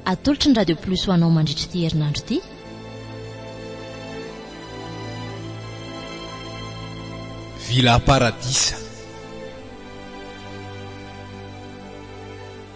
Atolotry ny Radio Plus ho anao mandritra ity herinandro ity. Villa Paradisa.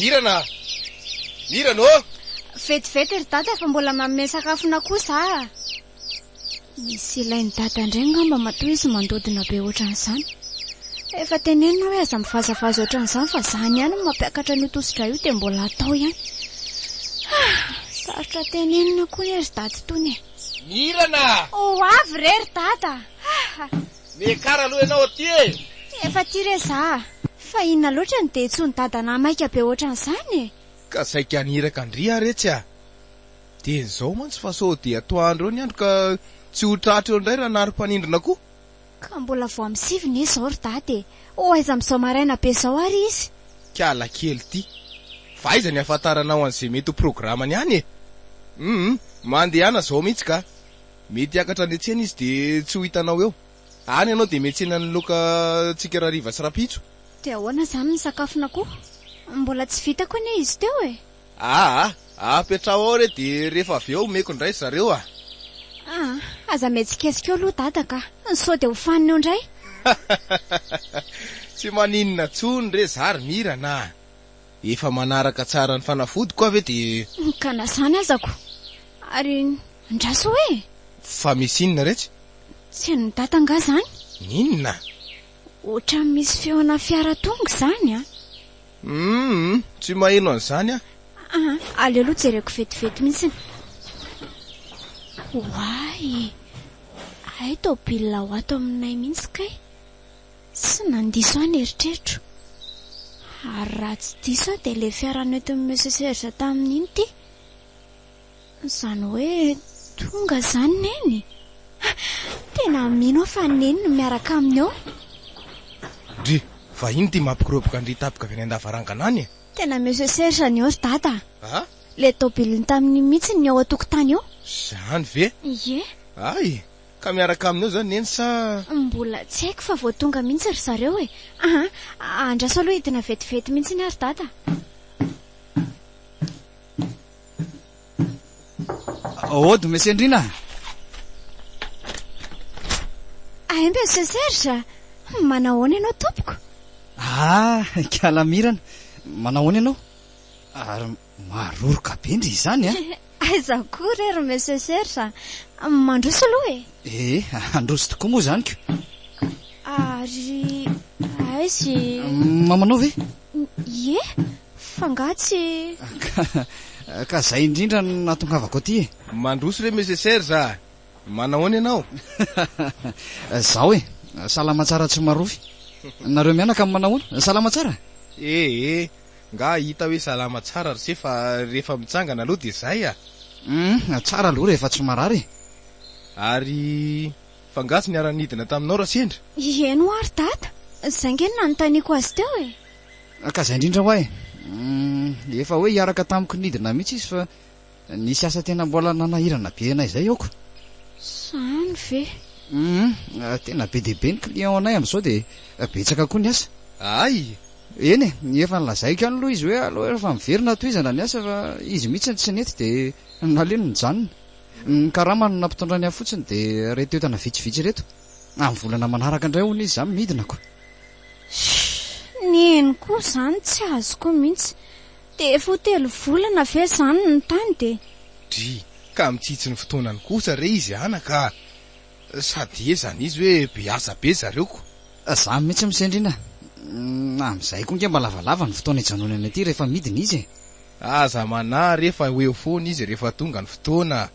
Mirana! Mirana ô! Vetivety ry dada fa mbola manome sakafo an'akoho za. Misy ilain'i Dada indray angamba matoa izy mandodona be ohatran'izany. Efa tenenina hoe aza mivazavaza ohatran'izany fa izany ihany no mampiakatra an'io tosi-drà io dia mbola atao ihany. Ah! Sarotra tenenina koa anie ry Dada itony e! Mirana! Ho avy re ry Dada! Ah! Mekara aloha ianao aty e! Efa aty re za! Fa inona loatra no dia intsony Dada na maika be ohatran'izany e! Ka saika haniraka an-dry aho re tsy a! Dieny zao mantsy fa sao dia atoandro eo ny andro ka tsy ho tratra eo indray ranarmpanindrona koa. Ka mbola vao am sivy ne zao ry dada e! ho aiza am zao maraina be zao ary izy? Kiala kely ity. Fa aiza ny afantaranao an'izay mety ho programany any e! Humm mandehana zao mihitsy ka! Mety hiakatra any an-tsena izy dia tsy ho hitanao eo. Any ianao dia miantsena ny loka tsika rariva sy rapitso. Dia ahoana izany ny sakafona koa? Mbola tsy vitako anie izy teo e! Aa! apetraho ao re de rehefa avy eo omeko indray ry zareo a! Aa! aza mihetsiketsika eo aloha dada ka! sao de hofanina eo indray! Tsy maninona tsony re za ry Mirana a! efa manaraka tsara ny fanafodiko aho ve de. Ka na zany azako! ary andraso hoe! Fa misy inona re tsy. Tsy an'i dada angaha zany? N'inona? Ohatran'ny misy feona fiara tonga izany a! Humm tsy maheno an'izany aho. Aa aleo aloha jereko vetivety mihitsy ny. Oay e! Hay tôbila ho ato aminay mihitsy kay! Tsy nandiso aho ny eritreritro. Ary raha tsy diso aho dia ilay fiara nentin'i Monsieur Serge tamin'iny ity. Izany hoe tonga izany Neny? Tena mino aho fa Neny no miaraka aminy ao. Ndry, vahiny ity mampikoroboka an-dry Tapika avy any an-davarangana any e! Tena Monsieur Serge anio ry Dada a! A? Ilay tobiliny tamin'iny mihitsy ny ao an-tokotany ao. Izany ve? Ie. Hay! Ka miaraka aminy ao izany Neny sa? Mbola tsy haiko fa vao tonga mihitsy ry zareo e! Aa, andraso aloha hidina vetivety mihitsy aho ry Dada. Aody Monsieur Ndrina. Aembe Monsieur Serge. Manahoana ianao tompoko? Ah, kalamirana. Manahoana ianao? Ary maroroka be ndry izany a. Ah. Aiza koa re ry Monsieur Serge. Mandroso aloha e. Eh, handroso tokoa moa izany ko. Ary aizy. Mamanao ve? Ie? Fa nga tsy. Ka ka zay indrindra no nahatongavako aty e! Mandroso re Monsieur Serge a! Manahoana ianao? Zao e! Salama tsara tsy marofy! Nareo mianaka manahoana? Salama tsara? E e! Nga hita hoe salama tsara ry se fa rehefa mitsangana aloha dia zay a! Hum, tsara aloha rehefa tsy marary e! Ary Fa nga tsy niara-nidina taminao Rasendra? Ieny hoa ry Dada, zay nge no nanontaniako azy teo e! Ka zay indrindra hoa e! Efa hoe hiaraka tamiko nidina mihitsy izy fa nisy asa tena mbola nanahirana be anay zay aoka. Zany ve? Humm, tena be dia be ny client anay amin'izao dia betsaka koa ny asa. Ay! Eny e, efa nolazaiko ihany aloha izy hoe aleo efa miverina tohizana ny asa fa izy mihitsy no tsy nety dia naleo no nijanona. Ny karama no nampitondrany ahy fotsiny dia ireto entana vitsivitsy ireto. Amin'ny volana manaraka indray hono izy izany midina ko. Hii, ny eny koa izany tsy azoko mihitsy. Dia efa ho telo volana ve izany no tany dia. Dry, ka mitsitsy ny fotoanany kosa re izy anaka a! Sady ie izany izy hoe be asa be zareo ko. Izaho mihitsy misendrina a! Amin'izay koa ange mba lavalava ny fotoana ijanonany aty rehefa midina izy e! Aza manary e fa ho eo foana izy rehefa tonga ny fotoana.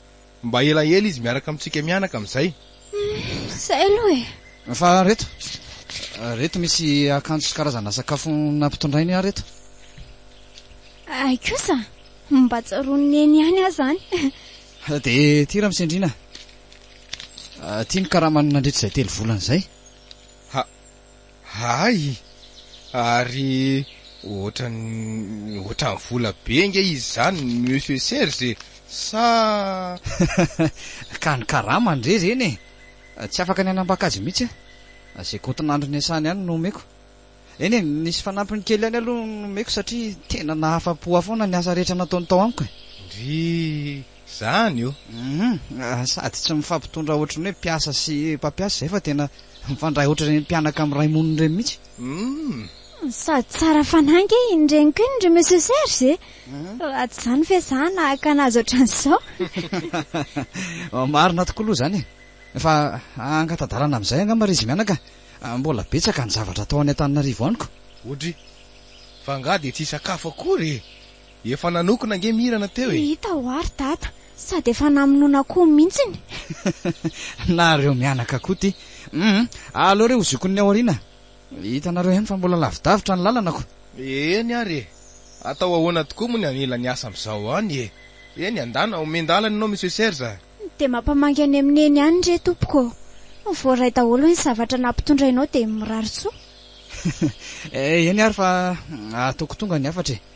Mba elaela izy miaraka amintsika mianaka amin'izay. Humm zay aloha e. Fa reto, reto misy akanjo sy karazana sakafo nampitondrainy aho reto. Hay kosa, mba tsaroan'i Neny ihany aho izany. Dia ity Ramsendriana, ity ny karamany nandritra izay telo volana izay. Ha, Hay! Ary ohatran'ny ohatran'ny vola be ange izy izany Monsieur Serge e! Sa? Ka ny karama ndry ireny e! Tsy afaka ny hanambaka azy mihitsy aho. Izay kaontin'andro niasany ihany no omeko. Eny e, nisy fanampiny kely ihany aloha nomeko satria tena nahafa-po ahy foana ny asa rehetra nataony tao amiko e! Ndry! Zany io. Humm sady tsy mifampitondra ohatry ny hoe mpiasa sy mpampiasa izay fa tena mifandray ohatry ireny mpianaka amin'ny ray monina ireny mihitsy. Humm. Sady tsara fanahy ange iny reniko iny ry Monsieur Serge e! Raha tsy izany ve za hanahaka anazy ohatran'izao. Marina tokoa aloha izany e! Fa hangata-dalana amin'izay angamba ry izy mianaka a! Mbola betsaka ny zavatra atao any Antananarivo any ko! Odry! Fa angaha dia tsy hisakafo akory e! Efa nanokona ange Mirana teo e! Hita hoa ry Dada, sady efa namonoana koa mintsiny. Nareo mianaka Koty hum! Aleo re ho zokin'ny aoriana. Hitanareo ihany fa mbola lavidavitra ny lalanako. Eny ary e! Atao ahoana tokoa moa ny hanila ny asa amin'izao any e! Eny andana, omen-dalana ianao Monsieur Serge a! Dia mampamangy any amin'ny Neny any re tompoko ô! Voaray daholo ny zavatra nampitondrainao dia mirary soa. Eny ary fa ataoko tonga ny hafatra e!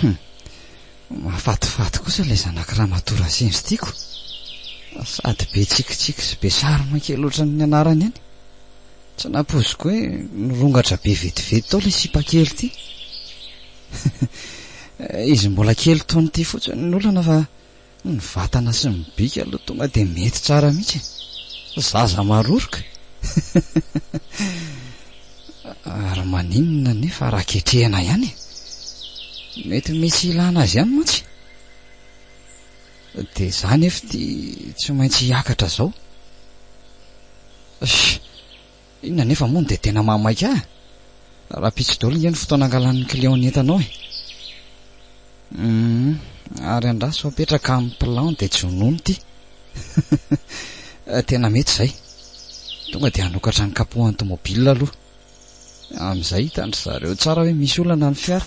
Hum. Mahafatifaty kosa ilay zanak'i Ramatoa Razendry tiako. Sady be tsikitsiky sy be charme kely ohatran'ny anarany any. Tsy nampoiziko hoe nirongatra be vetivety tao ilay sipa kely ity. Izy mbola kely toa an'ity fotsiny ny olana fa Ny vatana sy ny bika aloha tonga dia mety tsara mihitsy e! Zaza maroroka! Ary maninona anefa raha ketrehina ihany e? Mety misy ilana azy ihany mantsy! Dia za anefa ity tsy maintsy hiakatra izao. Sh! Inona anefa moa no dia tena mahamaika ahy? Rahampitso daholo ange ny fotoana angalan'ny client ny entanao e! Humm, ary andraso apetraka amin'ny plan dia jonono ity! Tena mety izay! Tonga dia hanokatra ny kapohan'ny tomobile aloha. Amin'izay hitan-dry zareo tsara hoe misy olana ny fiara.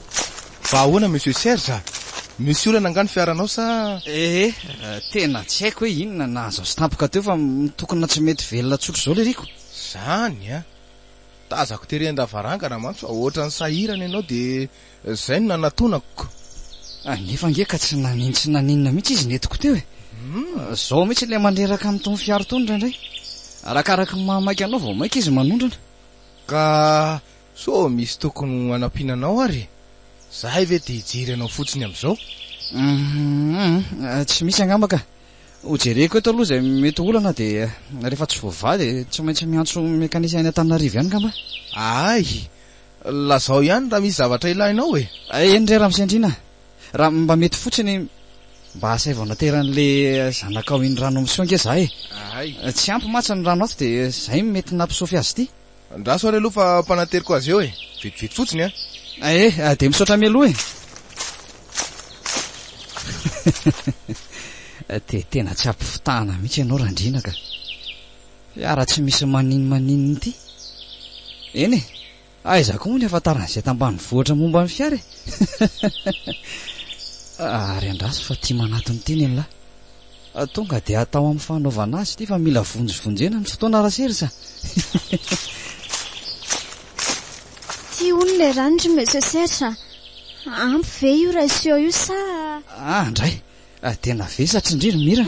Fa ahoana Monsieur Serge a? Misy olana angaha ny fiaranao sa? Ee, tena tsy haiko hoe inona nahazo azy tampoka teo fa mitokona tsy mety velona tsotra izao ilay riko. Zany a! Tazako tery an-davarangana mantsy fa ohatran'ny sahirana ianao dia izay no nanatonako. Nefa ange ka tsy nanin tsy naninona mihitsy izy nentiko teo e! Izao mihitsy ilay maneraka amin'itony fiara itony indraindray. Arakaraky ny maha maika anao vao maika izy manondrana. Ka So misy tokony ho anampiana anao ary e? Zahay ve te hijery anao fotsiny amin'izao? Hum-hum-hum, tsy misy angamba ka. Hojereko eto aloha izay mety ho olana dia rehefa tsy voavaha dia tsy maintsy miantso mekanisy any Antananarivo ihany ngamba. Ahay! Lazao ihany raha misy zavatra ilainao e! Eny re Ramose Andriana a! Raha mba mety fotsiny, mba asaivo anatery an'le zanakao iny rano misy ao ange za e! Ahay! Tsy ampy mantsy ny rano ato dia zay mety nampisofy azy ity. Andraso ary aloha fa mpanateriko azy eo e. Vetivety fotsiny an. Eh, dia misaotra mialoha e. Dia tena tsy ampifitahana mihitsy ianao Randriana ka. Fiara-tsy misy maninmaninona ity. Eny e, aiza koa moa ny afantaran'izay tambanivohitra momba ny fiara e. Ary andraso fa tia manatona ity ny an'lah. Tonga dia atao amin'ny fanaovana azy ity fa mila vonjivonjena ny fotoana ra Serge a. Tia hono ilay rano ry Monsieur Serge a. Ampy ve io ratio io sa? Ah, ndray. Dia navesatra indry ry Mira.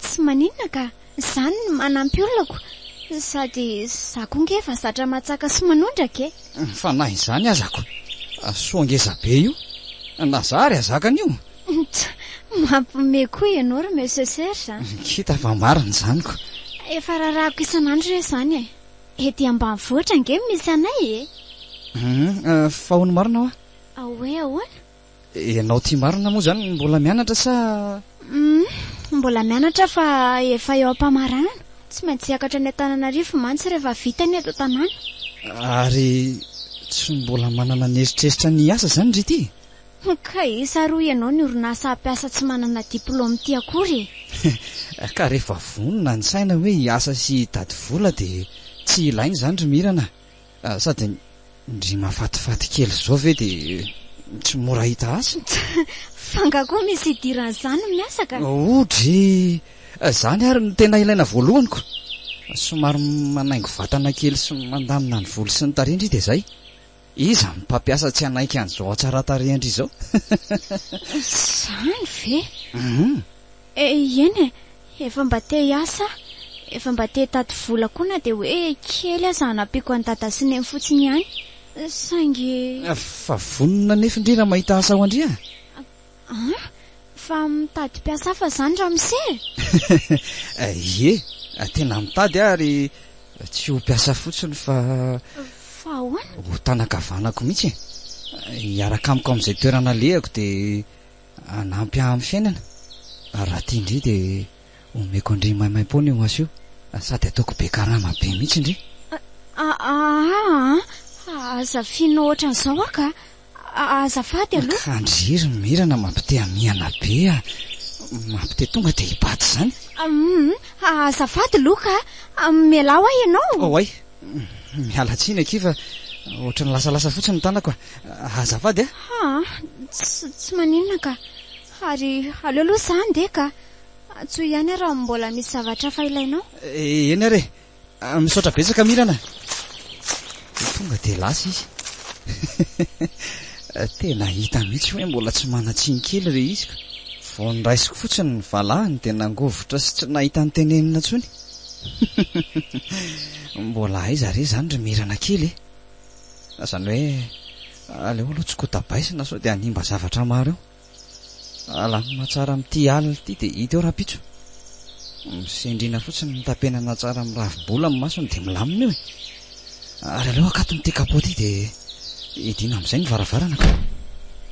Tsy maninona ka. Izany no manampy olako, sady za koa nge efa zatra matsaka sy manondraka e! Fa na izany aza ko! Soa ngeza be io! Na za ary azaka an'io! Tsa! Mampiomehy koa ianao ry Monsieur Serge a! Kita fa marina izany ko! Efa rarahako isan'andro re izany e! Ety ambanivohitra nge misy anay e! Humm! Fa hono marina hoa? Hoe ahoana? Ianao ity marina moa izany mbola mianatra sa? Humm, mbola mianatra fa efa eo am-pamarana. Tsy maintsy hiakatra any Antananarivo mantsy rehefa vita ny eto an-tanàna. Ary tsy mbola manana ny eritreritra ny hiasa izany ry ity? Ka isa ary hoy ianao ny orinasa hampiasa tsy manana diplaoma ity akory e! Ka rehefa vonona ny saina hoe hiasa sy hitady vola dia tsy ilaina izany ry Mirana a! Sady ndry mafatifaty kely zao ve de tsy mora hita asa? Fa nga koa misy hidirany zany no miasa ka? Odry! Zany ary no tena ilaina voalohany ko! Somary manaingo vatana kely sy mandamina ny volo sy ny tarehy ndry de zay! Iza ny mpampiasa tsy hanaiky an'izao hatsaran-tarehy ndry izao? Zany ve? Hum! Eh eny e! Efa mba te hiasa aho, efa mba te hitady vola koa na dia hoe kely aza hanampiako an'i Dada sy Neny fotsiny ihany, saingy. Fa vonona nefy ndry raha mahita asa ao an-dry a! An! Fa mitady mpiasa hafa izany ramose e! Ie, tena mitady aho ary tsy ho mpiasa fotsiny fa. Fa ahoana? Ho tana-kavanako mihitsy e! Hiaraka amiko amin'izay toerana alehako dia. hanampy ahy amin'ny fiainana, raha tian-dry dia omeko an-dry maimaim-poana io maso io, sady ataoko be karama be mihitsy ndry. Ahaa an, aza fino ohatran'izao aho ka, azafady aloha. Kandry ry Mirana mampite hamihana be a, mampite tonga dia hibata izany. Hum, azafady Loka a, mialà hoa ianao. Oay, miala tsiny akia fa ohatran'ny lasalasa fotsiny ny tanako a. Azafady a. Ha, tsy maninona ka. Ary aleo aloha izaho handeha ka. Antsoy ihany aho raha mbola misy zavatra hafa ilainao. Eh, eny ary e. Ah, misaotra betsaka Mirana. Tonga dia lasa izy. Tena hita mihitsy hoe mbola tsy manan-tsiny kely re izy ka. Vao niraisiko fotsiny ny valahany dia nangovitra sy tsy nahita ny tenenina intsony. Mbola aiza re izany ry Mirana kely e. Na izany hoe aleo aloha tsy kotabaisina sao dia hanimba zavatra maro eo. Alamina tsara amin'ity alina ity dia hita eo rahampitso. Misendriana fotsiny ny tapenana tsara amin'ny ravi-bola amin'ny masony dia milamina eo e. Ary aleo akaton'ity kapao ity dia hidiana amin'izay ny varavarana ka.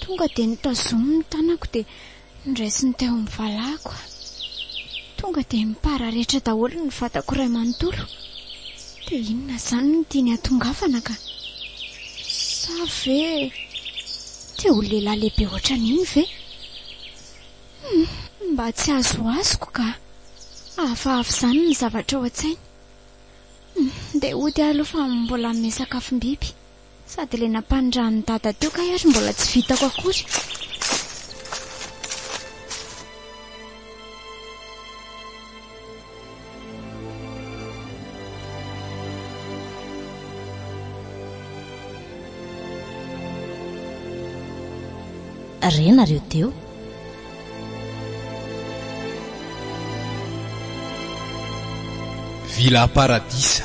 Tonga dia notazominy ny tanako dia noraisiny teo amin'ny valahako. Tonga dia nipararetra daholo ny vatako iray manontolo. Dia inona izany no tiany hatongavana ka? Sa ve te ho lehilahy lehibe ohatran'iny ve? Hum! Mba tsy azoazoko ka! Hafahafa izany ny zavatra ao an-tsainy. Hum! Dia hody aho aloha fa mbola hanome sakafom-biby. Sady ilay nampanindran'i Dada teo kay ary mbola tsy vitako akory. Re nareo teo. Villa Paradisa.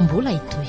Mbola hitohy.